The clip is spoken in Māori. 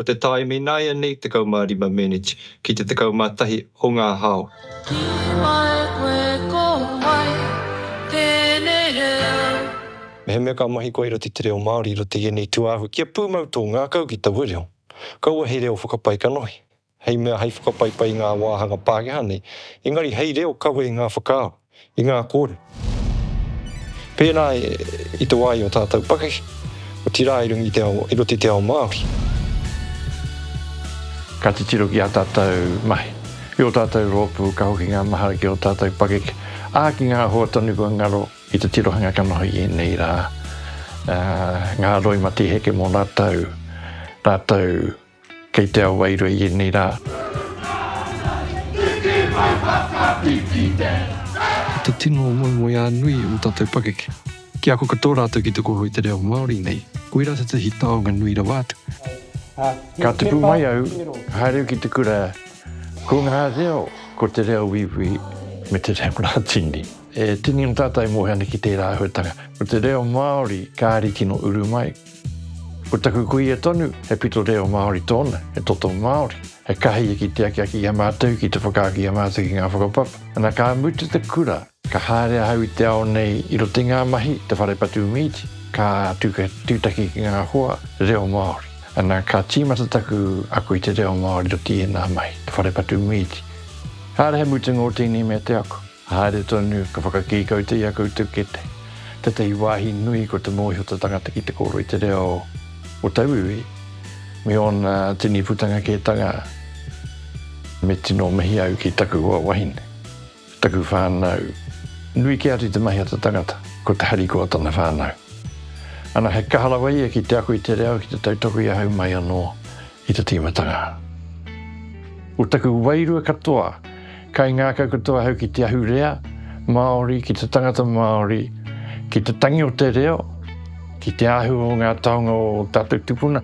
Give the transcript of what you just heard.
Ko te tāimi ināianei 15 meneti ki te 11 o ngā hao. Ki wai koe ko wai tēnei reo? Mehemea ka mahi koe i roto i te reo Māori, i roto i ēnei tūāhui, kia pūmau tō ngākau ki taua reo, kaua he reo whakapae kanohi. hei mea hei whakapaipai i ngā wāhanga Pākehā nei, engari hei reo kawe i ngā whakaaro, i ngā kōrero. Pēnā i te wā i ō tātou pakeke, otirā i runga i te ao, i roto i te ao Māori. Ka titiro ki ā tātou mahi, ki ō tātou rōpū, ka hoki ngā mahara ki ō tātou pakeke, ā, ki ngā hoa tonu kua ngaro i te tirohanga ka noho i ēnei rā, ā, ngā roimati heke mō rātou, rātou Kei te ao wairua i ēnei rā. Te tino moemoeā nui o tātou pakeke. Ki ako katoa rātou ki te koho i te reo Māori nei. Koirā tētahi taonga nui rawa atu. Ka tupu mai au, haere au ki te kura, ko ngā reo, ko te reo uiui me te reo Rātini. E tini ana tātou e mōhio ana ki tērā āhuatanga. Ko te reo Māori kāre tino uru mai. Ko taku kuia tonu, he pito reo Māori tōna, he toto Māori, he kahia ki te akiaki i a mātou ki te whakaaki i a mātou ki ngā whakapapa. Ana ka mutu te kura, ka haere ahau i te ao nei i roto i ngā mahi, te whare patu mīti, ka tūtaki ki ngā hoa reo Māori. Ana ka tīmata taku ako i te reo Māori i roto i ēnā mahi, te whare patu mīti. Kāre he mutunga o tēnei mea te ako. Haere tonu ka whakakī koutou i a koutou kete. Tētahi wāhi nui ko te mōhio o te tangata ki te kōrero i te reo o tauiwi me ōna tini putanga kētanga. Me tino mihi au ki taku hoa wahine, taku whānau. Nui kē atu i te mahi a te tangata, ko te harikoa o tana whānau. Ana, he kaha rawa ia ki te ako i te reo, ki te tautoko i ahau mai anō. I te tīmatanga o taku wairua katoa, kai ngākau katoa ahau ki te ahurea Māori, ki te tangata Māori, ki te tangi o te reo, ki te āhua o ngā taonga o ō tātou tupuna.